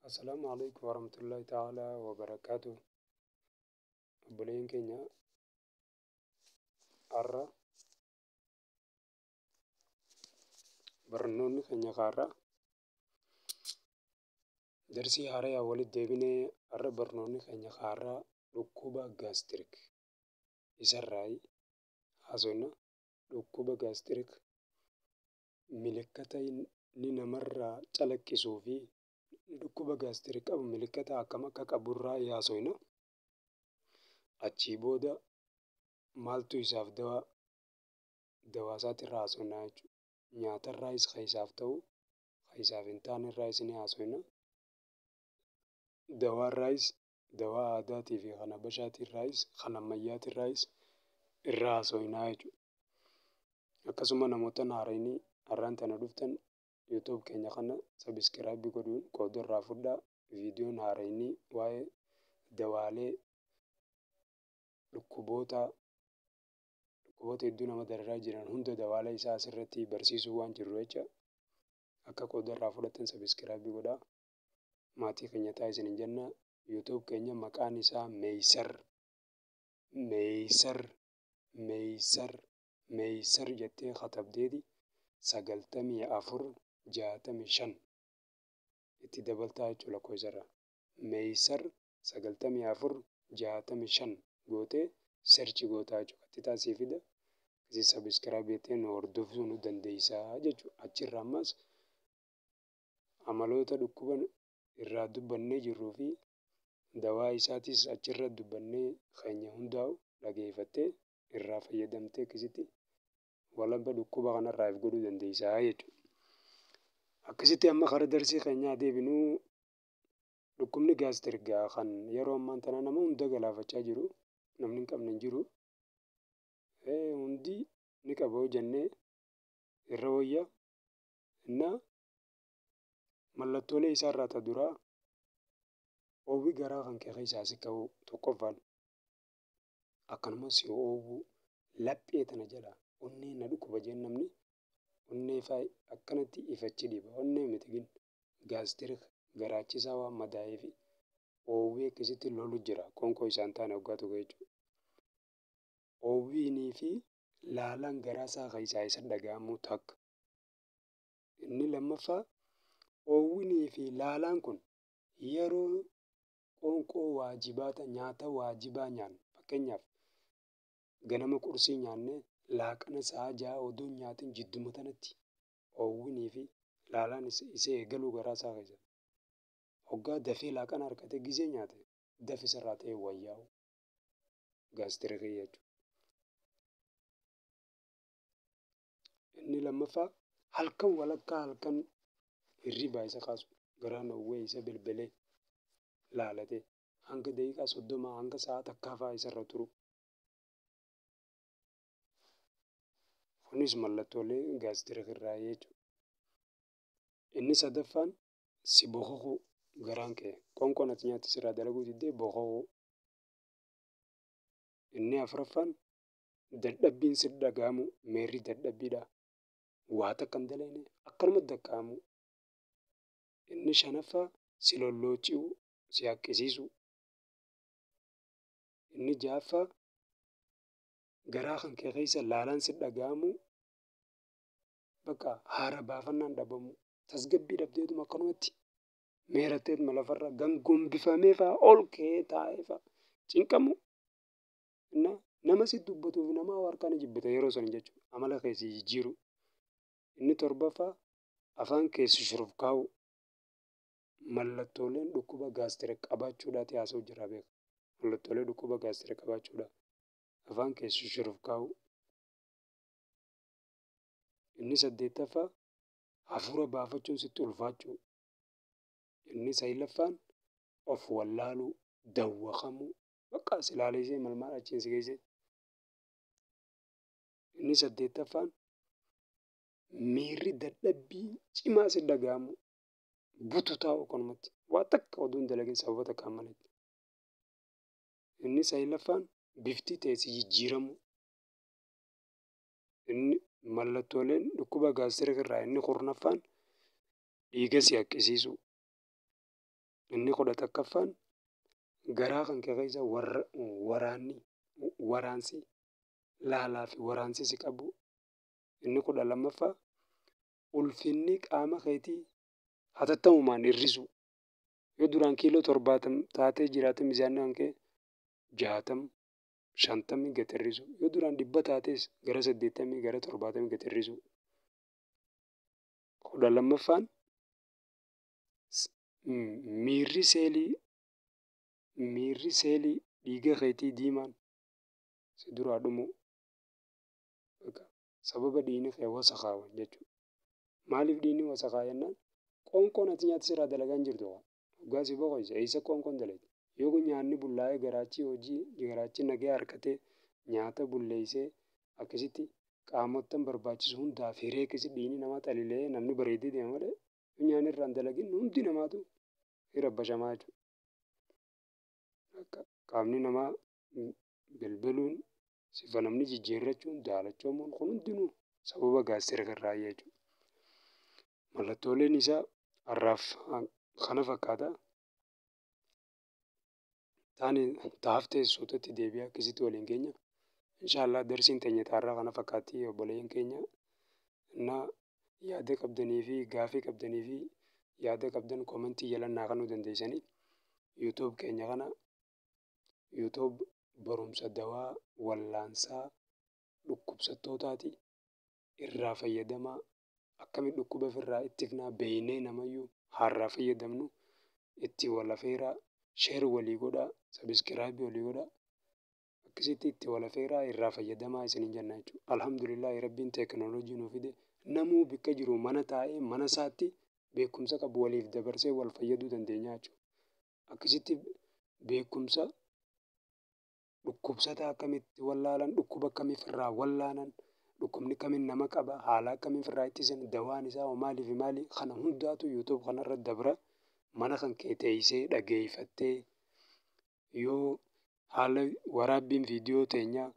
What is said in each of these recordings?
Assalaamu alaikum warahmatullahi ta'ala wabarakaatu. Obboleen keenya har'a barnoonni keenya har'a darsii haaraya walitti deebinee har'a barnoonni keenya har'a dhukkuba gaastirik isarraa haasofna. Dhukkuba gaastirik Milikkata inni namarraa calaqqisuu fi namni dhukkuba gaastirii qabu milikkata akkam akka qaburraa haasofna. Achii booda maaltu isaaf dawaa dawaa isaatirraa haasofna jechuudha. Nyaatarraayis kan isaaf ta'u kan isaaf hin taanerraayis ni haasofna. Dawaarraayis dawaa aadaatii fi kan habashaatiirraayis kan ammayyaatirraayis irraa haasofna jechuudha. Akkasuma namootan haarayni har'aan tana dhuftan YouTube keenya kana subscribe godhuun qooda irraa fudhaa. Viidiyoon haarayni waa'ee dawaalee dhukkuboota dhukkuboota hedduu nama dararaa jiran hunda dawaalee isaa asirratti barsiisuu waan jirru jecha akka qooda irraa fudhatan subscribe godhaa. Maatii keenya ta'a isin hin jenna. YouTube keenya maqaan isaa Meeysar Meeysar meysar meysar jettee katabdeeti sagaltamii afur jaatamii shan itti dabaltaa jechuu lakkoofsa irraa meysar sagaltamii afur jaatamii shan gootee serchi gootaa jechuu qaxxitaa sii fida isii sabiskiraayib jettee nu hordofuu nu dandeeysaa jechuu achirra ammaas amaloota dhukkuba irraa dubbannee jirruu fi dawaa isaatis achirra dubbannee keenya hundaa'u dhageeffattee irraa fayyadamtee akkasitti walaba dhukkuba kanarraa if godhuu dandeessa jechuudha. Akkasitti amma kara darsii keenyaa deebinuu dhukkubni gaastirgaa kan yeroo ammaan tana nama hunda galaafachaa jiru namni hin qabne hin jiru. Hundi ni qaba yoo jennee irra wayya innaa mallattoolee isaa irraa ta duraa oowwi garaa kan kee keessaa si ka'uu tokkoffaan akkanumas si oowwuu laphee tana jala onnee na dhukkuba jeen namni onnee faa akkanatti ifachi dhiba onnee miti gin gaastirik garaachisaa waan madaa'ee fi oowwii akkasitti lolu jira qonkoo isaan taane waggaa tokko jechuudha. Oowwiinii fi laalaan garaa isaa keessaa isa dhaga'amuu takka. Inni lammaffaa oowwinii fi laalaan kun yeroo qoonqoo waajibaata nyaata waajibaa nyaannu fakkeenyaaf ganama qursii nyaannee laaqana sa'a ja'a odoo hin nyaatin jidduma tanatti oowwinii fi laalaan isa eegaluu garaa isaa keessa hoggaa dafee laaqana harkatee gizee nyaate dafi isarraa ta'ee wayyaa'u gaastirikii jechuudha. Inni lammaffaa halkan walakkaa halkan hirribaa isa kaasu garaan owwee isa belbelee laalatee hanga daqiiqaa soddomaa hanga sa'a takkaafaa isarra turu. Kunis mallattoolee gaastirik irraa jechuudha. Inni sadaffaan si bokokuu garaan kee qoonqoon ati nyaatti sirraa dalaguu diddee bokokuu. Inni afraffaan dadhabbiin sitti dhaga'amu meerri dadhabbiidha. Waa takka hin dalayne akkanumatti dakka'amu. Inni shanaffaa si lollooci'u, si haqqisiisu. Inni ja'affaa garaa kan kee keessa laalaan sitti dhaga'amu bakka haara baafannaan dhabamu. Tasgabbii dhabdeetuma akkanumatti meeratteetuma lafarra gangombifamee fa'a ol ka'ee taa'ee fa'a cinqamu. Inna nama si dubbatu fi nama harkaa ni jibbita yeroo san jechuudha. Amala kee si jijjiiru. Inni torbaffaa afaan kee si shurufkaa'u. Mallattooleen dhukkuba gaastira qabaachuudhaati haasa'u jira beeka. Mallattoolee dhukkuba gaastira qabaachuudha. Afaan kee si shurufkaa'u. Inni saddeettaffaa hafuura baafachuun sitti ulfaachuu. Inni saglaffaan of wallaaluu, dawwakamuu, Baqqaa si laaleessee mal maal achiin si geessee. Inni saddeettaffaan miirri dadhabbii cimaa si dhaga'amu bututaa okonumatti waa takka oduu hin dalagin sababa takkaan malee. Inni saglaffaan bifti ta'e si jijjiiramu. Inni mallattooleen dhukkuba gaastirikii irraa inni kurnaffaan dhiiga si haqqisiisuu. Inni kudha takkaffaan garaa kan kee keessa waraanni waraansi laalaa fi waraansi si qabu. Inni kudha lammaffaa ulfinni qaama keetii hatattamumaan hir'isuu. Yoo duraan kiiloo torbaatam taatee jiraate mizaanni kan kee jaatam shantamii gad hir'isuu. Yoo duraan dhibba taates gara saddeettamii gara torbaatamii gad hir'isuu. Kudha lammaffaan miirri seelii miirri seelii dhiiga keetii diimaan si duraa dhumuu bakka sababa dhiigni kee wasakaawan jechuudha. Maaliif dhiigni wasakaa jennaan qoonqoon ati nyaata sirraa dalagaa hin jirtu kaa dhugaa si boqoyse eessa qoonqoon dalagdi yoo kun nyaanni bullaa'ee garaachii hojii garaachii nagee harkatee nyaata bulleessee akkasitti qaamottan barbaachisu hundaaf hiree akkasitti dhiigni namaa xalilee namni bareedee deema malee dunyaan irraa hin dalagin hundi namaatu hin rabbashamaa jechuudha. Akka qaamni namaa belbeluun sifa namni jijjiirrachuun daalachamuun kun hundinuu sababa gaazexeera kan raayyaa jechuudha. Mallattooleen isaa har'aaf kana fakkaata. taani taaf ta'e suutatti deebi'aa akkasitti waliin keenya inshaallah darsiin teenya taarraa kana fakkaatti obboleeyyan keenya innaa yaada qabdanii fi gaafii qabdanii fi yaada qabdan koomentii jalan naa kanuu dandeeysanii yuutuub keenya kana yuutuub barumsa dawaa wallaansaa dhukkubsattootaati irraa fayyadamaa akkami dhukkuba ofirraa ittifnaa beeknee namayyuu haarraa fayyadamnu itti wal afeeraa sheer walii godhaa sabiskiraayib walii godhaa akkasitti itti wal afeeraa irraa fayyadamaa isiniin jenna jechuudha. Alhamdulillah rabbiin teekinooloojii nu fide namuu bakka jiru mana taa'ee mana isaatti beekumsa qabu waliif dabarsee wal fayyaduu dandeenya jechuudha. Akkasitti beekumsa dhukkubsataa akkamitti wallaalan, dhukkuba akkamii ofirraa wallaanan, dhukkubni akkamiin nama qaba, haala akkamiin ofirraa ittisan, dawaan isaa hoo maalii fi maali? Kana hundaatu YouTube kanarra dabra. Mana kan kee teessee dhageeffattee yoo haala waraabbiin viidiyoo teenyaa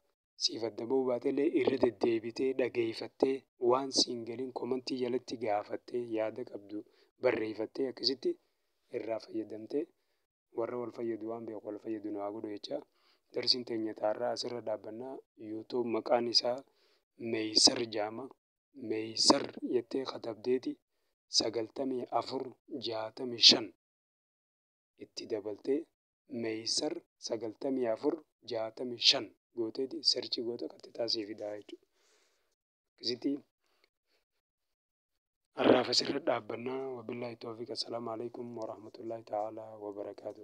siif adda ba'uu baatellee irra deddeebitee dhageeffattee waan siin galiin komantii jalatti gaafattee yaada qabdu barreeffattee akkasitti irraa fayyadamtee warra wal fayyadu waan beeku wal fayyadu nu haa godhu jecha darsiin teenya taarraa asirra dhaabbanna youtube maqaan isaa meeysar jaama meeysar jettee katabdeeti sagaltamii afur jaatamii shan itti dabaltee meeysar sagaltamii afur jaatamii shan gooteeti serchi goota qaxxixaa sii fidaa jechuudha. akkasitti har'aaf asirra dhaabbannaa wabillahi toofiq assalaamu alaikum warahmatullahi ta'ala wabarakaatu